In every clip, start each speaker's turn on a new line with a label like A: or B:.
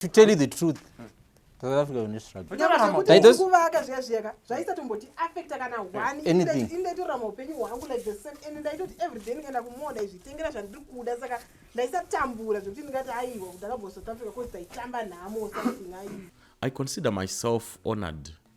A: to tell you the truth south africa une struggletaitokuvaka zviya zviyaka zvaisatomboti affecta kana hwaniindaitotora maupenyu hwangu like the same and ndaitoti everyday ndikaenda kumoo ndaizvitengera zvandiri kuda saka ndaisatambura
B: zvekuti ndingati aiwa kuti ndakabva south africa bcause taitamba nhamo something aiwa i consider myself honored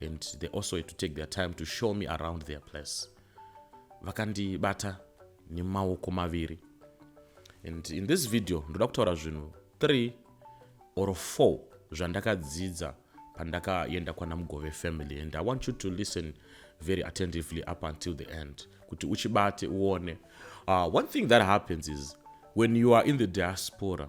B: and they also had to take their time to show me around their place vakandibata nemaoko maviri and in this video ndoda kutaura zvinhu three or four zvandakadzidza pandakaenda kwana mugove family and i want you to listen very attentively up until the end kuti uchibate uone uh, one thing that happens is when you are in the diaspora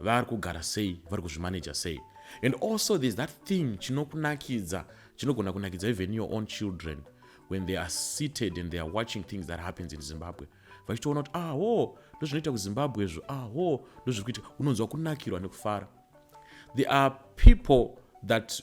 B: vari kugara sei vari kuzvimaneja sei and also there's that thing chinokunakidza chinogona kunakidza even your own children when they are seated and they are watching things that happens in zimbabwe vachitoona kuti aho ah, ndozvinoita kuzimbabwe izvo aho ah, ndozviri kuita unonzwa kunakirwa nekufara there are people that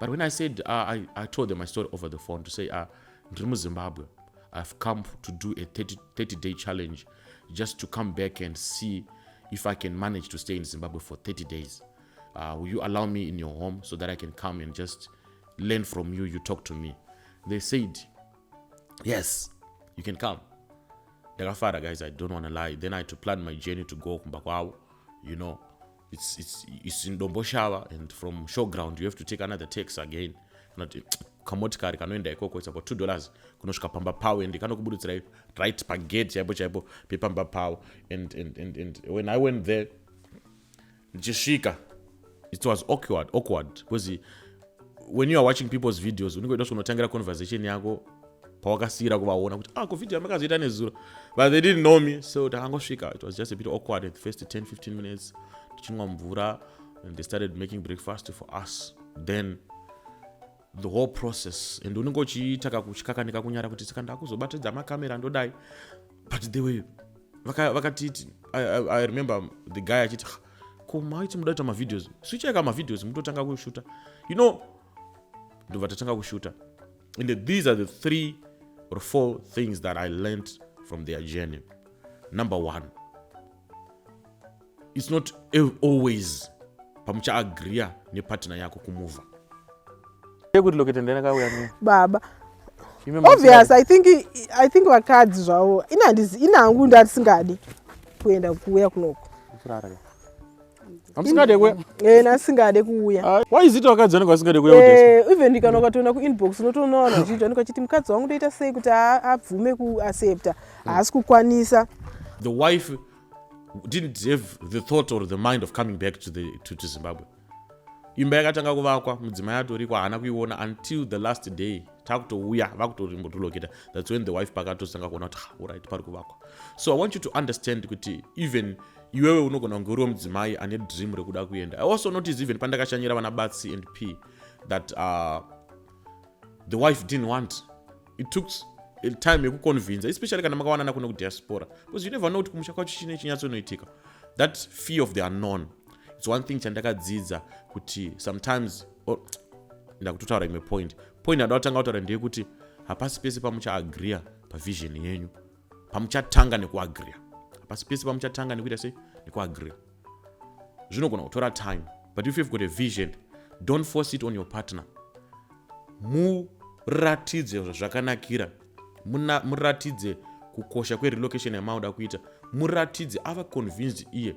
B: but when i said uh, I, i told them my story over the phone to say uh, ndiri muzimbabwe i've come to do a 30, 30 day challenge just to come back and see if i can manage to stay in zimbabwe for 30 days uh, will you allow me in your home so that i can come and just learn from you you talk to me they said yes you can come ndakafara guys i don't want to lie then i had to plan my journey to go kumba kwavo you know it's, it's, it's in domboshava and from show ground you have to take another tax again not kamotikari kanoenda ikoko it's about two dollars kunosvika pamba pavo and kanokuburutsirai right pagate chaipo chaipo pepamba pavo and, and, and, and when i went there ndichisvika it was awkward awkward because when you are watching people's videos unenge uida kunotangira conversation yako pawakasiyira kuvaona kuti ah kovideo yamakazoita nezuro but they didn't know me so takangosvika it was just a bit awkward at the first 10 15 minutes tichinwa mvura and they started making breakfast for us then the whole process and unenge uchiita kakuchikakanika kunyara kuti saka ndakuzobatidza makamera ndodai but they were vakatiti I, I, i remember the guy achiti ko maiti muda kuita mavideos swichaika mavideos mutotanga kushuta you know ndobva tatanga kushuta and these are the three or four things that i learnt from their journey number one its not always pamuchaagriya nepartner yako kumuvha yekuti lokete ndenakauya
C: baba obvious i think i think vakadzi zvavo inangu ndandisingadi kuenda kuuya kunoko amusingade kuya eh nasingade kuuya ah, why is it wakadzi anenge
B: asingade kuya eh even ndikana ukatoona ku
C: inbox unotoona vanhu vachiti anenge achiti mukadzi wangu ndoita sei kuti abvume ku accepta haasi kukwanisa the wife
B: didn't have the thought or the mind of coming back to the to, to zimbabwe imba yakatanga kuvakwa mudzimai atoriko haana kuiona until the last day takutouya vakutorimotoloketa thats when the wife pakatotanga kuona kuti ah, orit pari kuvakwa so i want you to understand kuti even iwewe unogona kunge uriwo mudzimai ane dream rekuda kuenda i also notice even pandakashanyira vana batsi and p that uh, the wife didn't want it took time yekuconvinsa especially kana makawanana kuno kudiaspora because you never know kuti kumusha kwacho chine chinyatsonoitika that fear of the unknown its one thing chandakadzidza kuti sometimes oh, ndakutotaura imwe point point yadakutanga kutaura ndeyekuti hapasi pese pamuchaagreea pavision yenyu pamuchatanga nekuagriya hapasi pese pamuchatanga nekuita sei nekuagriya zvinogona kutora time but if you've got a vision don't force it on your partner muratidze zvakanakira muratidze kukosha kwerelocation yamauda kuita muratidze ava convinced iye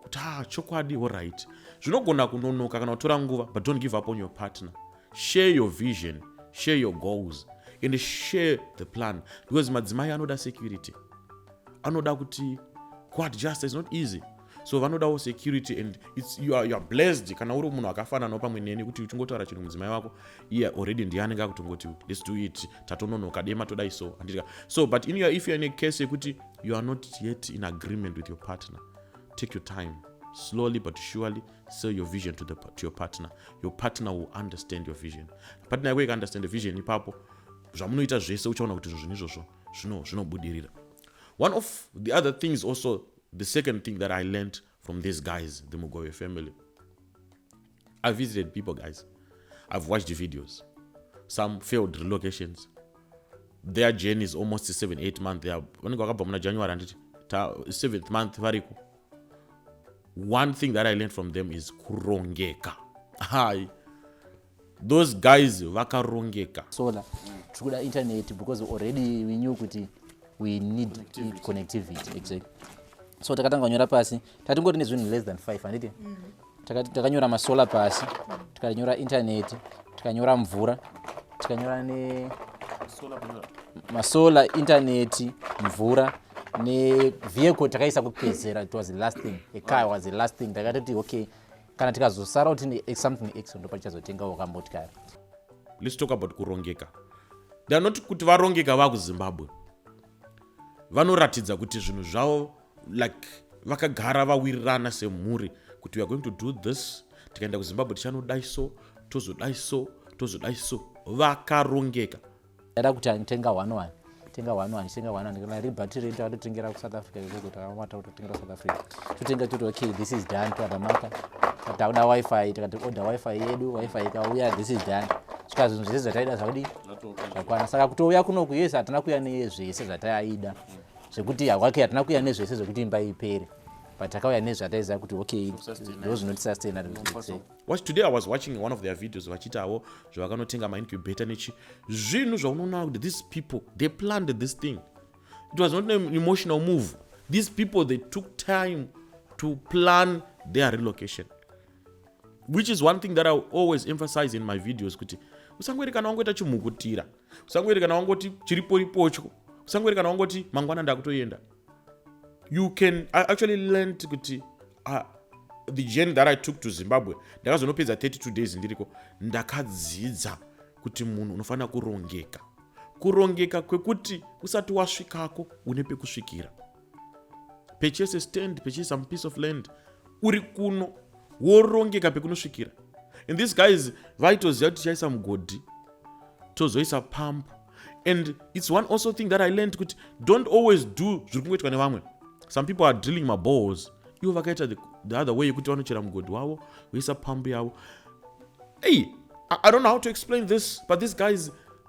B: kuti ha ah, chokwadi oright zvinogona kunonoka kana kutora nguva but don't give up on your partner share your vision share your goals and share the plan because madzimai anoda security anoda kuti kuadjusta is not easy so vanodawo security and it's, you, are, you are blessed kana uri munhu akafananawo pamwe neni kuti uchingotaura chinhu mudzimai wako iye yeah, already ndiye anenge akutongoti let's do it tatononoka dema todai so andika so but in your, if youare in a case yekuti you are not yet in agreement with your partner take your time slowly but surely sell your vision to, the, to your partner your partner will understand your vision partner yako ikaunderstand vision ipapo zvamunoita zvese uchaona kuti izvo zvinhu izvozvo zvinobudirira one of the other things also the second thing that i learned from these guys the mugove family i visited people guys i've watched the videos some failed relocations their journey is almost seven eight month vanenge vakabva muna january handiti seventh month variko one thing that i learned from them is kurongeka hai those guys vakarongeka solar
D: tiri kuda internet because already we knew kuti we need connectivity, connectivity exactly so takatanga kunyora pasi tatingoti nezvinhu less than five handiti mm. takanyora masolar pasi tikanyora intaneti tikanyora mvura tikanyora ne masolar intaneti mvura nevehicle takaisa kupedzera it was the last thing a car was the last thing takatoti okay kana tikazosara kuti something x ndopa tichazotengawo kamotikari let's
B: talk about kurongeka theyare not kuti varongeka vakuzimbabwe vanoratidza kuti zvinhu zvavo like vakagara vawirirana semhuri kuti weare going to do this tikaenda kuzimbabwe tichanodai so tozodai so tozodai so vakarongeka ndaida kuti
D: anitenga one one tenga one one tenga one one kana ribhati redu atotengera kusouth africa ikoko takamata kutotengera kusouth africa totenga toti okay this is done tadamaka tauda wifi tikati order wifi yedu wifi ikauya this is done saka zvinhu zvese zvataida zvakudi zvakwana saka kutouya kunoku yes hatina kuya neye zvese zvataida mm. zvekuti hawake hatina kuya nezvese zvekuti imba ipere but takauya nezvataiziva kuti okay ndo zvinotisustain watch today i
B: was watching one of their videos vachiitawo zvavakanotenga maincubator nechi zvinhu zvaunoona kuti these people they planned this thing it was not an emotional move these people they took time to plan their relocation which is one thing that i always emphasize in my videos kuti usangoerekana wangoita chimhukutira usangoerekana wangoti chiriporipocho usangoerekana wangoti mangwana ndakutoenda you can I actually learned kuti uh, the journey that i took to zimbabwe ndakazonopedza 32 days ndiriko ndakadzidza kuti munhu unofanira kurongeka kurongeka kwekuti usati wasvikako une pekusvikira purchase a stand purchase some piece of land uri kuno worongeka pekunosvikira and these guys vaitoziva kuti tichaisa mugodhi tozoisa pump and its one also thing that i learned kuti don't always do zviri kungoitwa nevamwe some people are drilling maballs ivo vakaita the other way yekuti vanochera mugodhi wavo voisa pump yavo ei i don't know how to explain this but these guys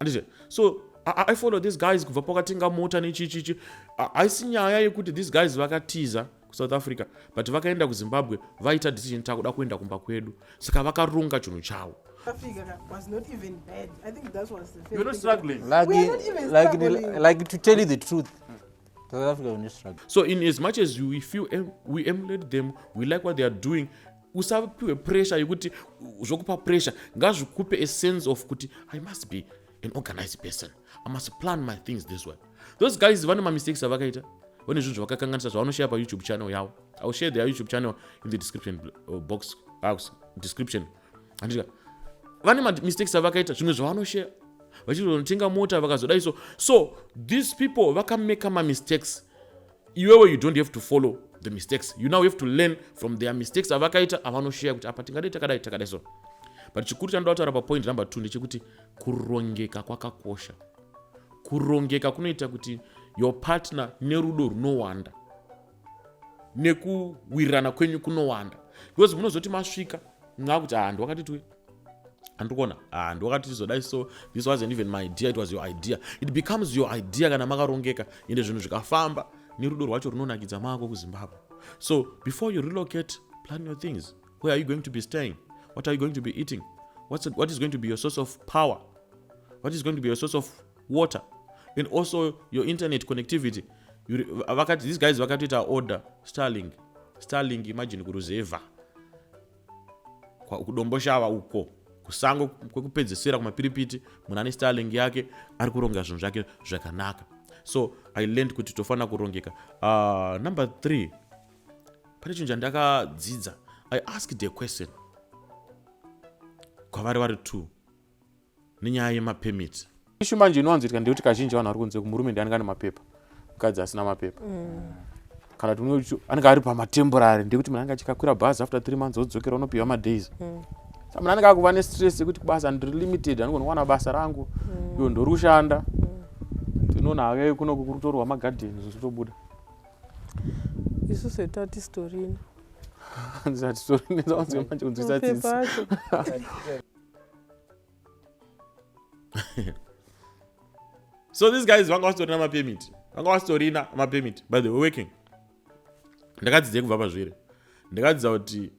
B: andizve so I, I follow these guys kubva pakatenga mota nechichichi haisi nyaya yekuti these guys vakatiza kusouth africa but vakaenda kuzimbabwe vaita decision takuda kuenda kumba kwedu saka vakaronga chinhu chavo
D: so in as much as
B: we feel we emulate them we like what they are doing usapiwe pressure yekuti zvokupa pressure ngazvikupe a sense of kuti i must be an organized person i must plan my things this way those guys vane mamistakes avakaita vane zvinhu zvavakakanganisa zvavanoshaya payoutube channel yavo iwill share their youtube channel in the description uh, box uh, description andika vane mamistakes avakaita zvimwe zvavanoshaya vachitonotenga mota vakazodai so so these people vakameka mamistakes iwewe you don't have to follow the mistakes you now have to learn from their mistakes avakaita avanosheya kuti apa tingadai takadai takadai so but chikuru chanoda kutaura papoint number two ndechekuti kurongeka kwakakosha kurongeka kunoita kuti your partner nerudo runowanda nekuwirirana kwenyu kunowanda because munozoti masvika mwakuti handu ah, wakatitwe andikuona ah, ndiwakati tizodai so this wasn't even my idea it was your idea it becomes your idea kana makarongeka ende zvinhu zvikafamba nerudo rwacho runonakidza mako kuzimbabwe so before you relocate plan your things where are you going to be staying what are you going to be eating What's, what is going to be your source of power what is going to be your source of water and also your internet connectivity vakati these guys vakatoita order starling starling imagine kuruzevha kudomboshava uko kusango kwekupedzesera kumapiripiti munhu ane starling yake ari kuronga zvinhu zvake zvakanaka so i learned kuti tofanira kurongeka uh, number three pane chinhu chandakadzidza i asked a question kwavari vari two nenyaya yemapermit ishu manje inowanzoitika ndeyekuti kazhinji vanhu vari kunze kumurume ndi anenge ane mapepa mukadzi asina mapepa mm. kana kuti anenge ari pamatemporary ndekuti munhu anenge achikakwira bhazi after three months odzokera unopiwa madays mm. sa munhu anenge akuva nestress yekuti kubasa ndiri limited anogona kuwana basa rangu mm. iyo ndori kushanda tinoona hake kuno kukurutorwa magadheni zvichitobuda
C: isu setati storini ndisati
B: storini zawanzwe manje kunzwisa tsitsi so these guys vanga vasitorina mapemit vanga vasitorina mapemit by the way working ndakadzidzei kubva pazviri ndakadzidza kuti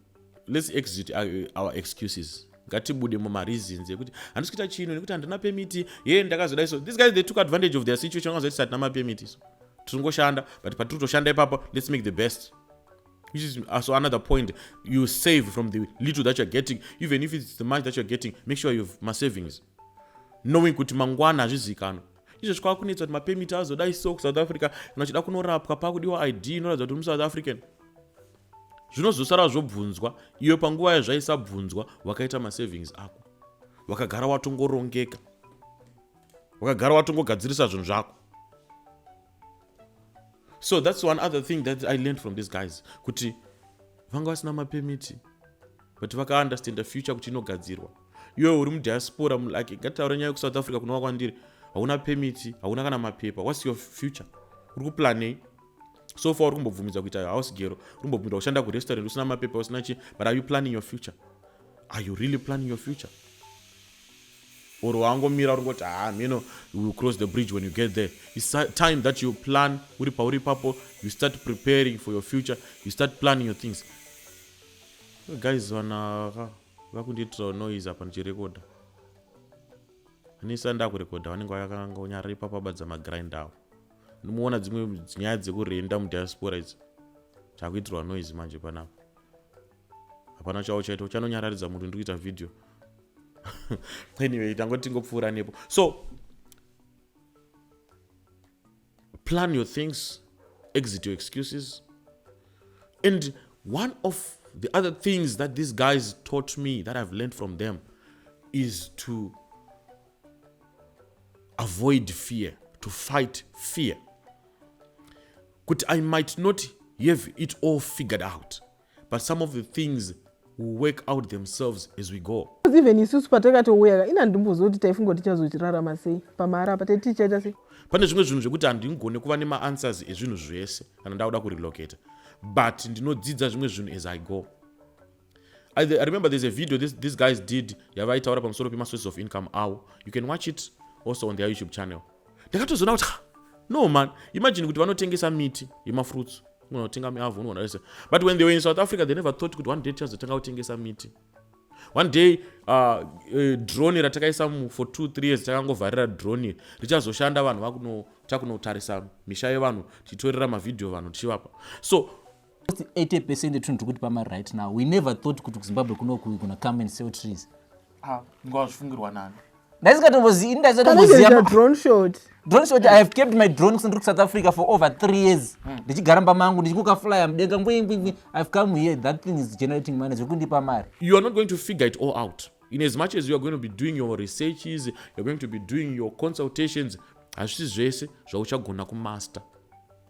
B: let's exit uh, our excuses ngatibude mumareasons ekuti handisi kuita chino nekuti handina pemiti ye ndakazoda iso these guys they took advantage of their situation vangazoti satina mapemiti iso tiringoshanda but patiri kutoshanda ipapo let's make the best which is also another point you save from the little that you're getting even if it's the money that you're getting make sure you've masavings knowing kuti mangwana hazvizikanwa izvo zvikava kunetsa kuti mapemit azodai so kusouth africa kana uchida kunorapwa pakudiwa id inoratidza kuti musouth african zvinozosara zvobvunzwa iyo panguva yazvaisabvunzwa wakaita masavings ako wakagara watongorongeka wakagara watongogadzirisa zvinhu zvako so that's one other thing that i learned from these guys kuti vanga vasina mapemiti but vakaunderstanda future kuti inogadzirwa iwewe uri mudiaspora mulike ngataure nyaya yekusouth africa kunova kwandiri hauna pemiti hauna kana mapepa whats your future uri kuplanei so far uri kumbobvumidza kuita house gero uri kumbobvumidza kushanda kurestaurant usina mapepa usina chi but are you planning your future are you really planning your future Or wangomira uringoti haa mheno you will cross the bridge when you get there. It's time that you plan uri pauri ipapo you start preparing for your future you start planning your things. Guys vana ka vakundiitirawo noise apa ndichirekoda. Anisa ndakurekoda vanenge vakanga unyarara ipapo abadza magrind awo. Ndimoona dzimwe nyaya dzekurenda mudiaspora idzi. Chakuitirwa noise manje panapa. hapana chavo chaito chanonyararidza munhu ndikuita video anyway tangoti tingopfuura nepo so plan your things exit your excuses and one of the other things that these guys taught me that i've learned from them is to avoid fear to fight fear kuti i might not have it all figured out but some of the things will work out themselves as we go even isusu patakatouya
C: ina ndimboziva kuti taifunga kuti tichazochirarama sei pamahara apa taiti tichaita sei pane zvimwe zvinhu zvekuti
B: handingone kuva nemaanswers ezvinhu zvese kana ndakuda kurelocata but ndinodzidza zvimwe zvinhu as i go I, I remember there's a video this, these guys did yavaitaura pamusoro pemasources of income awo you can watch it also on their youtube channel ndakatozoona kuti no man imagine kuti vanotengesa miti yemafruits unotenga miavho unoona vese but when they were in south africa they never thought kuti one day tichazotanga kutengesa miti one day uh, uh, drone ratakaisa for two three years takangovharira drone richazoshanda vanhu vakunotakunotarisa misha yevanhu tichitorera mavhidhiyo vanhu tichivapa so Almost 80
D: percent etunhu tiri kutipa mari right now we never thought kuti kuzimbabwe kunoku kuna come and sell trees Ah, ngoa zvifungirwa
B: nani ndaisingatombozivi Panenge zviita ndaisingatomboziva
C: drone shot. drone shot i have kept
D: my drone kusandiri kusouth africa for over three years ndichigara mba mangu ndichikuka flyer mudenga ngwingwingwi ihave
B: come
D: here
B: that
D: thing is generating
B: money
D: zvekundipa mari you are not
B: going
D: to figure
B: it
D: all
B: out
D: in
B: as much as you are going to be doing your researches you're going to be doing your consultations hazvisi zvese zvauchagona kumaster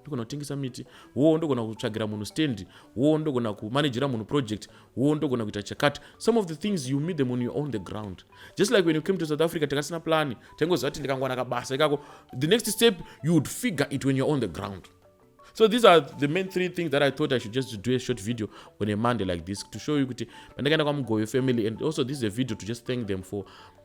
B: ndogona kutengesa miti wo ndogona kutsvagira munhu stand wo ndogona kumanagera munhu project wo ndogona kuita chakati some of the things you meet them on your own the ground just like when you came to south africa takasina plani taingoziva kuti ndikangwana kabasa ikako the next step you would figure it when you're on the ground so these are the main three things that i thought i should just do a short video on a monday like this to show you kuti pandakaenda kwamugoyo family and also this is a video to just thank them for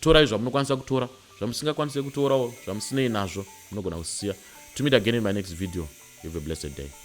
B: Torai zvamunokwanisa kutora, zvamusingakwanise kutorawo zvamusinei nazvo munogona kusiya. To meet again in my next video, have a blessed day.